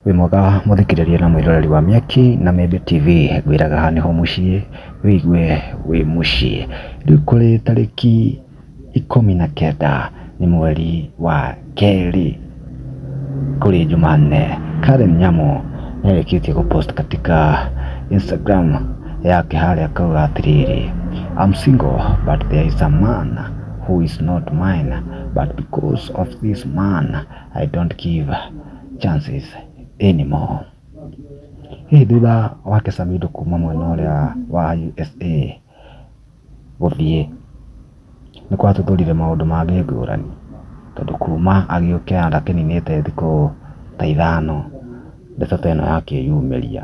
Wĩ mwega mũthikĩrĩria na mwĩroreri wa Mĩaki na Mĩmbi TV, ngwĩraga haha nĩho mũciĩ, wĩigue wĩ mũciĩ. Rĩu kũrĩ tarĩki ikũmi na kenda nĩ mweri wa kerĩ, kũrĩ Jumanne, Karen Nyamu nĩarĩkĩtie gũ post katika Instagram yake harĩa akauga atĩrĩrĩ, I'm single but there is a man who is not mine but because of this man I don't give chances anymore hihi thutha wake Samido kuma mwena ũrĩa wa USA gũthiĩ nĩ kwatũthũrire maũndũ mangĩ ngũrani tondũ kuma agĩũke ndakĩninĩte thikũ ta ithano ndeto ta ĩno yakĩyumĩria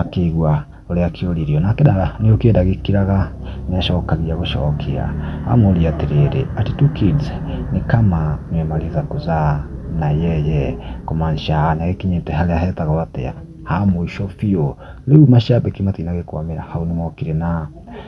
Akĩigua ũrĩa akĩũririo, nake Dara nĩgũkĩra agĩkiraga nĩacokagia gũcokia, amũũria atĩrĩrĩ, Ati tu kids ni kama mmemaliza kuzaa na yeye? Kũmaanisha nĩagĩkinyĩte harĩa hetagwo atĩa, ha mũico biũ. Rĩu macambĩki matinagĩkwamĩra hau nĩmokire na...